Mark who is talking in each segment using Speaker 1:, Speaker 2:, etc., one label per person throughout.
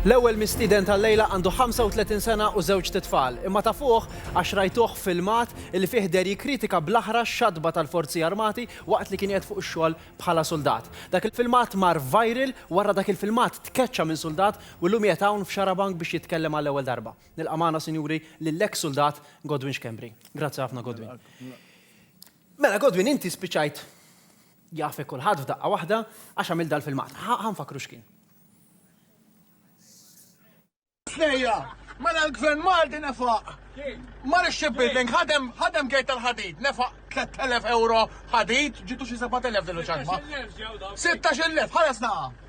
Speaker 1: L-ewwel mistieden tal-lejla għandu 35 sena u żewġt itfal, imma tafuh għax rajtuh filmat li fih deher jikkritika bl-aħrax xatba tal-Forzi Armati waqt li kien qiegħed fuq ix-xogħol bħala suldat. Dak il-filmat mar viral wara dak il-filmat tkeċċa minn suldat u llum qiegħed hawn f'Xarabank biex jitkellem għall-ewwel darba. Nilqa' magħna sinjuri lill-eks suldat Godwin Schembri. Grazzi ħafna Godwin. Mela Godwin inti spiċċajt Jafek kulħadd f'daqqa waħda għax għamil dal-filmat. Ħa nfakkru x'kien. Snejja, mela l-Gvern Malti nefaq. Mar ix-shipbuilding ħadem ħadem gate tal-ħadid, nefaq 3000 euro ħadid, ġitu xi 7000 din il-ċarma. 16,000 ħares naqa'.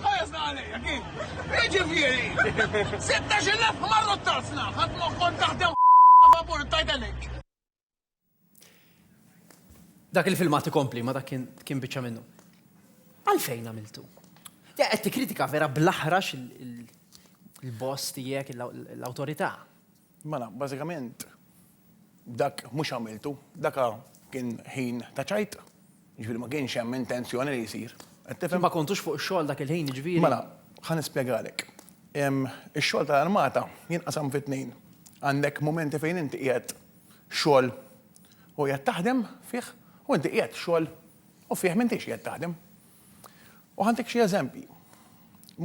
Speaker 1: Ħajasna għalija, kif? Iġifieri, 16,000 marru t-tazzna, ħadd ma kont taħdem favur Titanic. Dak il-filmat ikompli ma dak kien biċċa minnu. Għalfejn għamiltu? Ja, qed kritika vera bl-aħrax il-boss tiegħek l-awtorità. Mela, bażikament, dak mhux għamiltu, dak kien ħin ta' ċajt, jiġifieri ma kienx hemm intenzjoni li jsir. Qed tifhem? Ma kontux fuq ix-xogħol dak il-ħin, jiġifieri? Mela, ħa nispjegalek. Ix-xogħol tal-armata jinqasam fi tnejn. Għandek mumenti fejn inti qiegħed xogħol u qiegħed taħdem fih u inti qiegħed xogħol u fih m'intix qiegħed taħdem. U ħantik xi eżempji.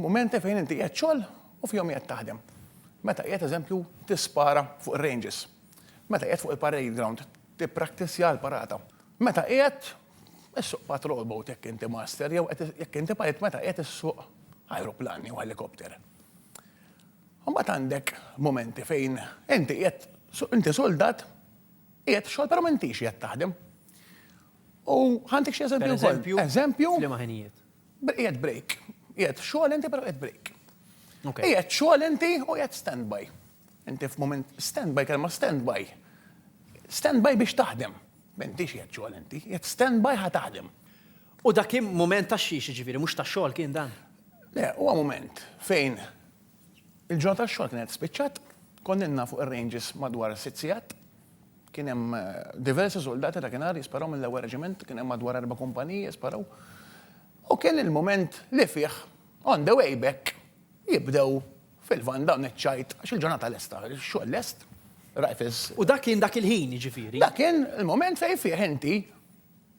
Speaker 1: Mumenti fejn inti qiegħed xogħol u fihom qiegħed taħdem. Meta qiegħed eżempju tispara fuq ir-ranges. Meta qiegħed fuq il-parade ground tippraktissja l-parata. Meta qiegħed issuq patrol boat jekk inti master jew qed jekk inti pilot meta qiegħed issuq ajruplan jew helicopter. Imbagħad għandek mumenti fejn inti qiegħed inti suldat qiegħed f'xogħol però m'intix qiegħed taħdem. U ħantik xi eżempju wkoll. Eżempju? F'liema ħinijiet? Qiegħed break. Qiegħed xogħol inti però qiegħed break. Qiegħed xogħol inti u qiegħed standby. Inti f'mument standby, kelma standby. Standby biex taħdem. M'intix qiegħed xogħol inti, qiegħed standby ħa taħdem. U dak kien mument ta' xiex, jiġifieri mhux ta' xogħol kien dan? Le, huwa mument fejn il-ġurnata tax-xogħol kienet spiċċat, konnilna fuq ir-ranges madwar sitt sigħat, Kien hemm diversi suldati ta' kien għar jisparaw mill-ewwel reġiment, kien hemm madwar erba' kumpaniji jisparaw u kien il-mument li fih on the way back jibdew fil-vann dawn iċ-ċajt għax il-ġurnata lesta, ix-xogħol lest, rifles. U dak kien dak il-ħin jiġifieri? Dak kien il-mument fejn fih inti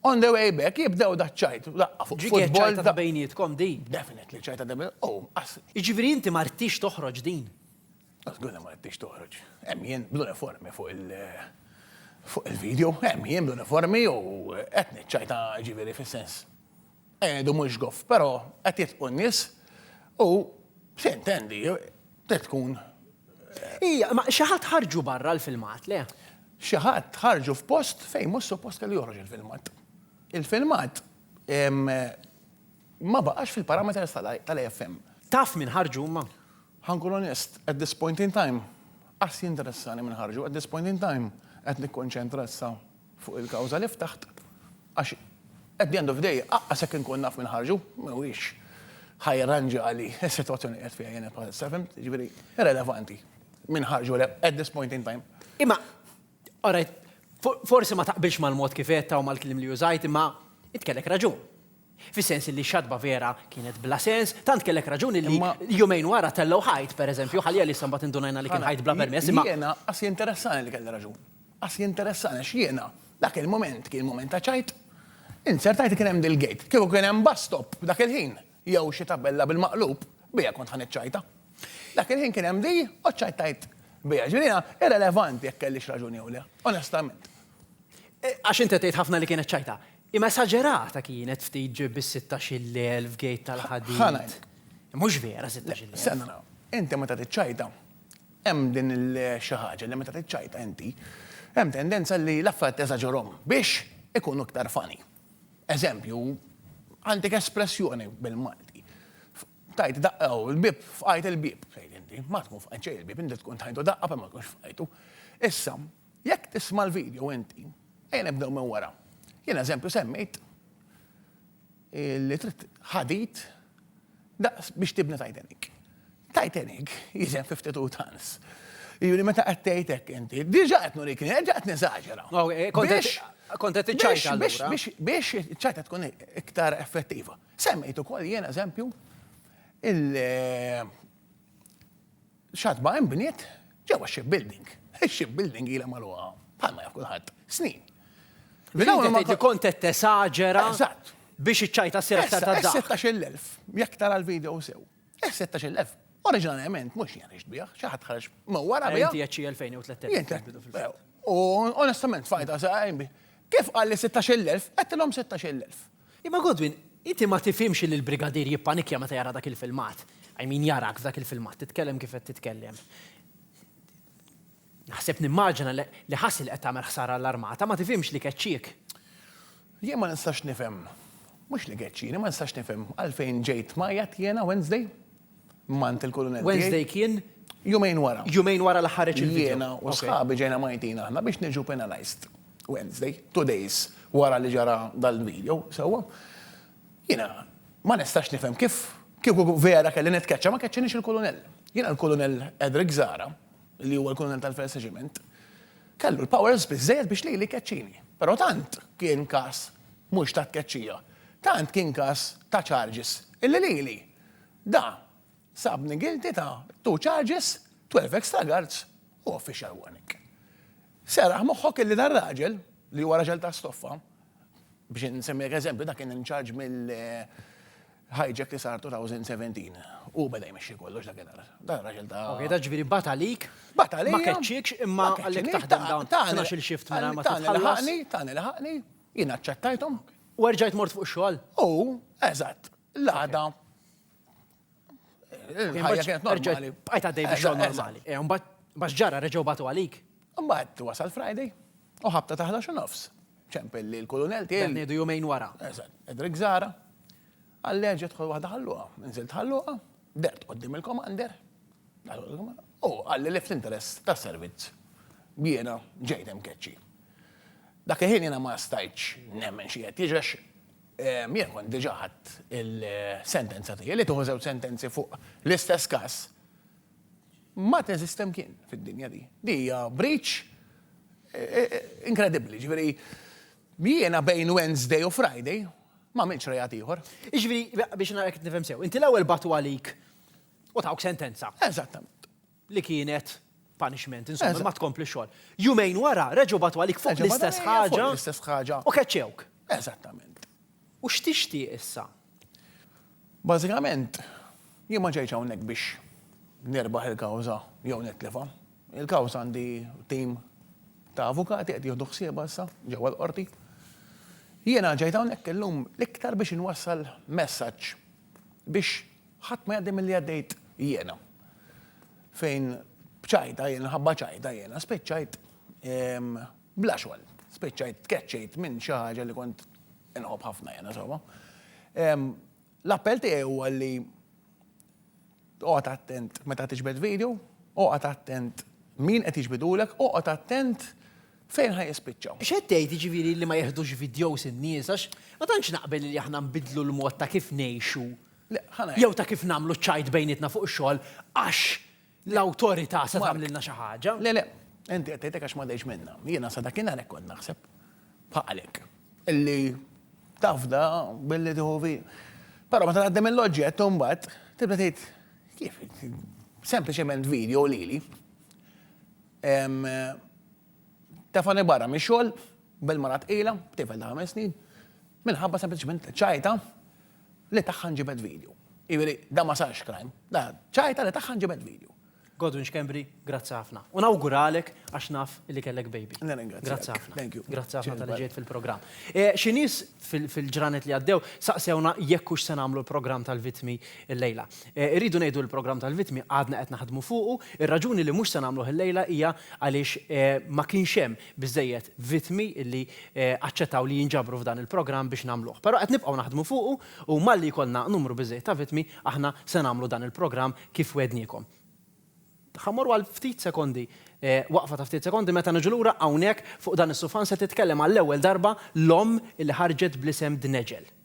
Speaker 1: on the way back jibdew daċ-ċajt, daqqa fuq futbol. Ġiet ċajta ta' bejnietkom din? Definitely ċajta ta' bejnietkom. Jiġifieri inti ma ridtix toħroġ din? Żgur li ma ridtix toħroġ. Hemm jien bl-uniformi fuq il- fuq il-video, hemm jien bl-uniformi u qed niċċajta ġifieri fis-sens qegħedu mhux goff, però qed jitqu n-nies u se intendi trid tkun Ija, ma xi ħadd ħarġu barra l-filmat, le? Xi ħadd ħarġu f'post fejn mhux suppost kellu joħroġ il-filmat. Il-filmat ma baqax fil-parameters tal-AFM. Taf min ħarġu huma? Ħa nkun onest, at this point in time, qas jinteressani min ħarġu. At this point in time, qed nikkonċentra issa fuq il-kawża li ftaħt għax at the end of the day, aqqas jekk inkun naf min ħarġu, mhuwiex ħa jirranġali s-sitwazzjoni li qiegħed fiha jiena bħalissa, fimt? Jiġifieri, irrelevanti min ħarġu le, at this point in time. Imma, Alright, forsi ma taqbilx mal-mod kif għedtha u mal-kliem li użajt imma int kellek raġun. Fis-sens li x-xatba vera kienet bla sens, tant kellek raġun li jumejn wara tellgħu ħajt, pereżempju, ħalija li issa mbagħad indunajna li kien ħajt bla permess. Jiena qas jinteressani li kelli raġun. Qas jinteressani għax jiena dak il-mument kien mument ta' ċajt. Int ser tgħid li kien hemm dil-gate. Kieku kien hemm bus stop dak il-ħin. jew xi tabella bil-maqlub, biha kont ħa niċċajta. Dak il-ħin kien hemm di u ċċajtajt biha. Ġifieri jiena irrelevanti jekk kellix raġuni jew le, onestament. Għax int qed tgħid ħafna li kienet ċajta. Imma esaġerata kienet ftit ġib bis-sittax-il elf gate tal-ħadid. Ħa ngħid. Mhux vera sittax-il elf. Stenna nara. Inti meta tiċċajta, hemm din il-xi ħaġa li meta tiċċajta inti, hemm tendenza li l-affarijiet tesaġerhom biex ikunu iktar funny. Eżempju, għandek espressjoni bil-Malti. Tajt daqqa u l-bib, fqajt il-bib, tgħid inti. Ma tkun fqajt xejn il-bib, inti tkun tajtu daqqa per ma tkunx fqajtu. Issa, jekk tisma' l-video inti, ejja nibdew minn wara. Jien eżempju semmejt li trid ħadid Daqs biex tibna Titanic. Titanic jisem fi ftit utans. Juri meta qed tgħid hekk inti, diġà qed nurik, diġà qed neżaġera. Kont qed iċċajt allura. Biex iċ-ċajta tkun iktar effettiva. Semmejt ukoll jien eżempju il- Xatma inbniet ġewwa x-shipbuilding. Ix-shipbuilding ilha magħluqa, bħalma jaf kulħadd, snin. Kont qed tesaġera biex iċ-ċajta ssir aktar ta' daħq. 16,000, jekk tara l-video sew. 16,000. Oriġinarjament mhux jien għext biha, xi ħadd ħareġ minn wara biha. Inti qed xi 2,000 jew 3,000. U onestament fajta sew. Kif qalli 16,000, għedtilhom 16,000. Imma Godwin, inti ma tifhimx li l-Brigadier jippanikkja meta jara dak il-filmat. I mean jarak f'dak il-filmat titkellem kif qed titkellem. Naħseb nimmaġina li ħass li qed tagħmel ħsara għall-Armata, ma tifhimx li keċċiek. Jien ma nistax nifhem, mhux li keċċini, ma nistax nifhem għalfejn ġejt tmajjat jiena Wednesday? Mant il-Kulunell. Wednesday kien? Jumejn wara. Jumejn wara l-aħħar reċipitu. Jiena u sħabi ġejna Maltin aħna biex niġu penalized. Wednesday, two days wara li ġara dal-video, sewwa. Jiena ma nistax nifhem kif kieku vera kelli nitkeċċa ma keċċinix il-Kulunell. Jiena l-Kulunell Edric Zara, li huwa l-Kulunell tal-First Regiment, kellu l-powers biżejjed biex lili keċċini. Però tant kien każ mhux ta' tkeċċija, tant kien każ ta' charges illi lili Da sabni guilty ta' two charges, 12 extra guards u official warning. Serraħ moħħok illi dan raġel, li huwa raġel ta' stoffa, biex insemmilek eżempju da kien in charge mill hijack li sar 2017. Hu beda jmexxi kollox dakinhar. Dan raġel ta' Ok, da ġifieri bata għalik. Bata għalija. Ma keċċiekx imma għallik taħdem dawn. Tagħna xi l-shift mela ma titħallas. Tagħna laħaqni, tagħna laħaqni, jien aċċettajthom. U erġajt mort fuq ix-xogħol? U, eżatt. L-għada. Il-ħajja kienet normali. Bqajt għaddej biex xogħol normali. Eh, mbagħad bax ġara reġgħu batu għalik. Mbagħad wasal Friday u ħabta taħla xi nofs. Ċempel li l-kolonel tiegħi. Ngħidu jumejn wara. Eżatt, Edrik Zara. Għalleġ jidħol waħda ħalluha, nżilt ħalluha, dert qoddim il-komander. U għalli li fl-interess ta' servizz biena ġejtem keċċi. Dak il-ħin jena ma stajċ nemmen xie jiġex Jien kont diġà ħadt il-sentenza tiegħi, li tieħu żewġ sentenzi fuq l-istess każ ma teżisti mkien fid-dinja di. Di hija breach inkredibbli, jiġifieri jiena bejn Wednesday u Friday ma għamiltx reat ieħor. Jiġifieri biex nara jekk qed nifhem sew, inti l-ewwel bagħtu għalik u tawk sentenza. Eżattament. li kienet punishment, insomma, Eżatt. ma tkomplix xogħol. Jumejn wara reġgħu bagħtu għalik fuq Reġa' bada l-istess lejja fuq ħaġa l-istess ħaġa. u keċċewk. Eżattament. U x'tixtieq issa? Bażikament, jien ma ġejtx hawnhekk biex nirbaħ il-kawża jew nitlifha. Il-kawża għandi tim ta' avukati qed jieħdu ħsiebha issa ġewwa l-qorti. Jiena ġejt hawnhekk illum l-iktar biex inwassal messaġġ biex Ħadd ma jgħaddi milli għaddejt jiena. Fejn b'ċajta jiena, ħabba ċajta jiena, spiċċajt bla xogħol. Spiċċajt tkeċċejt minn xi ħaġa li kont inħobb ħafna jiena sewwa. L-appell tiegħi huwa li oqgħod attent meta tiġbed video, oqgħod attent min qed jiġbidulek, oqgħod attent fejn ħaj jispiċċaw. X'qed tgħid jiġifieri li ma jeħdux videos in-nies għax ma tantx naqbel li aħna nbidlu l-mod ta' kif ngħixu. jew ta' kif nagħmlu ċ-ċajt bejnietna fuq ix-xogħol għax l-awtorità se tagħmlilna xi ħaġa. Le, le. Inti qed tgħid hekk għax m'għaddejtx minnha. Jiena sa dakinhar hekk kont naħseb. Bħalek. Illi tafda billi tieħu vi. Però meta tgħaddi mill-oġġett u mbagħad tibda tgħid kif sempliċement video lili. Tefani barra mix-xogħol bil-mara tqila, b'tifel ta' ħames snin, minħabba sempliċement ċajta li tagħha nġibed video. Jiġifieri dan ma sarx crime, dan ċajta li tagħha nġibed video. Godwin Schembri, grazzi ħafna. U nawguralek għax naf li kellek baby. Grazzi ħafna. Thank you. Grazzi ħafna tal ġejt fil-programm. E, xi nies fil-ġranet li għaddew saqsewna jekk hux se nagħmlu l-programm tal-vitmi l-lejla. E, irridu ngħidu l-programm tal-vitmi għadna qed naħdmu fuqu, ir-raġuni li mhux se nagħmluh il-lejla hija għaliex e, ma kienx hemm biżżejjed vittmi li aċċettaw li jinġabru f'dan il-programm biex nagħmluh. Però qed nibqgħu naħdmu fuqu u malli jkollna numru biżżejjed ta' vittmi, aħna se nagħmlu dan il-programm kif wegħdniekom. Ħa mmorru għal ftit sekondi, waqfa ta' ftit sekondi, meta niġu lura hawnhekk fuq dan is-sufan se titkellem għall-ewwel darba l-omm li ħarġet bl-isem Dneġel.